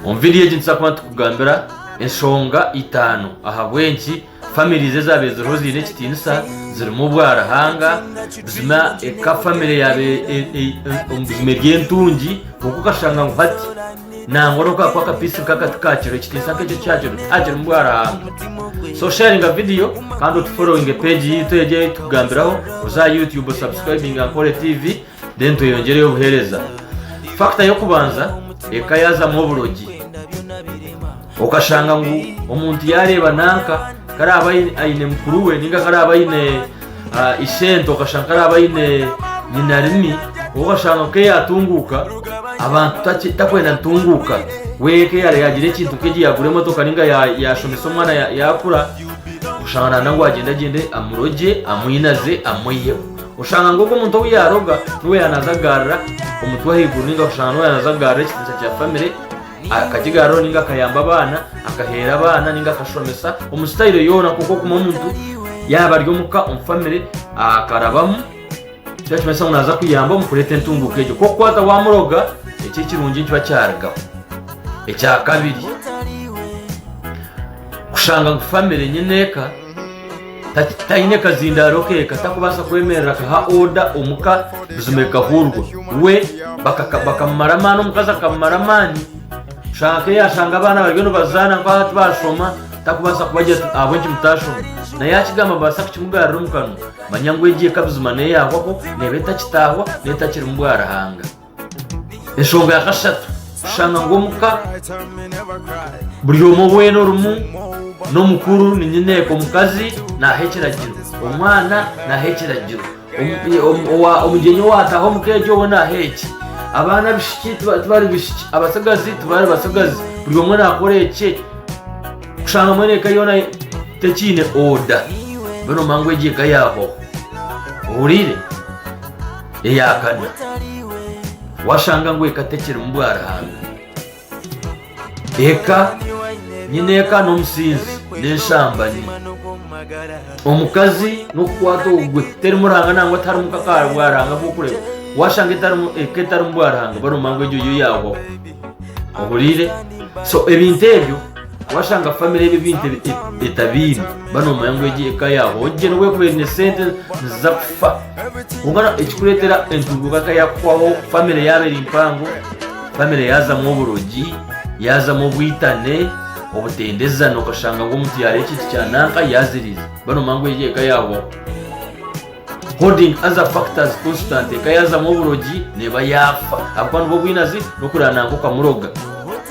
Omu vidiyo egi nituza kuba nitukugambira enshonga itaano ahabw'enki famirizi ezaabaire ziriho ziine ekitiinisa zirimu obwaruhanga, buzima eka famire yaabaire omu buzima eri entungi kwonka okashanga ngu hati nangwa n'oku kaakuba akapiisi nk'aka tikakiriho ekitiinisa nk'ekyo tikyakiriho tihakirimu bwaruhanga. So sharinga vidiyo kandi otuforowinge peegi yaitu egi ei turikugambiraho, oze aha youtube osubscribinge Ankore TV. Then tweyongyereyo obuheereza. Factor y'okubanza eka yaazamu oburogi. Okashanga ngu omuntu yaareeba nanka ku araabe aine mukuru we ninga ku araabe aine ah, isente okashanga ku araabe aine nyina rimi okashanga ku yaatunguuka abantu taki- takwenda ntunguuka we eka eyaare yaagira ekintu nk'egi yaagura emotoka ninga ya- yaashomesa omwana ya- yaakura oshanga naana ngu agyende agyende amurogye amwinaze amwiheho Oshanga ngu ogwo muntu ou yaaroga niwe yaaba naaza kugarura omutwe ahaiguru nainga oshanga niwe yaaba naaza kugarura ekitiinisa kya famire, akakigaruraho nainga akayamba abaana, akaheera abaana nainga akashomesa omu sitayiro yoona nk'oku orikuba omuntu yaaba ari omuka omu famire akarabamu. Nikyo nikimanyisa ngu naaza kuyamba omu kureeta entunguuka egyo. Kwonka waaza waamuroga, ekyo ekirungi nikiba kyarugaho. Ekya kabiri, kushanga ngu famire nyine eka, Tati titaine kazindaaro ke katakubaasa kwemerera akaha oda omuka buzima ekahuurwa. We bakamumara amaani omukazi akamumara amaani kushanga nka eyashanga abaana bariyo nibazaana nka hati bashoma takubaasa kubagira ati ahabw'enki mutashoma naye akigamba babaasa kukimugaarira omu kanwa manya ngu egi eka buzima neeyahwaho neeba etakitaahwa n'etakirimu bwa Ruhanga. Enshonga ya kashatu, kushanga ngu omuka buri omwe weena orimu n'omukuru ni nyineeka omukazi naaha ekiragiro, omwana naaha ekiragiro, omugyenyi owaataha omuka egyo we naaha eki, abaana abishiki tibari bishiki, abatsigazi tibari batsigazi, buri omwe naakora ekye, kushanga mbwenu eka yoona tekiine oda, mbwenu omanya ngu egyo eka yaahoho. Ohuriire? Eya kana, Washanga ngu eka tekirimu bwaruhanga. Eka, Nyine eka n'omusinzi n'enshambani. Omukazi n'okukwata ogwe, terimu Ruhanga nangwa tiharimu nk'aka bwaruhanga bw'okureeba. Washanga etarimu eka etarimu bwaruhanga, baromba ngu egyo yo yaahwaho. Ohuriire? So, ebintu ebyo Washanga famire ebi ebintu etabiine ba nomanya ngu egi eka yaawe ogye nobu ekuba eine sente niziza kufa kwonka ekikureetera entunguuka ka yaakuhwaho famire yaaba eri mpango famire yaazamu oburogi yaazamu obwitane obutendezana okashanga ngu omuntu yaara ekintu kya nanka yaaziriiza ba nomanya ngu egi eka yaahwaho holding other factors constant eka yaazamu oburogi neeba yaafa ahabw'okuba nibwo bwinazi n'okureeba nanka okamuroga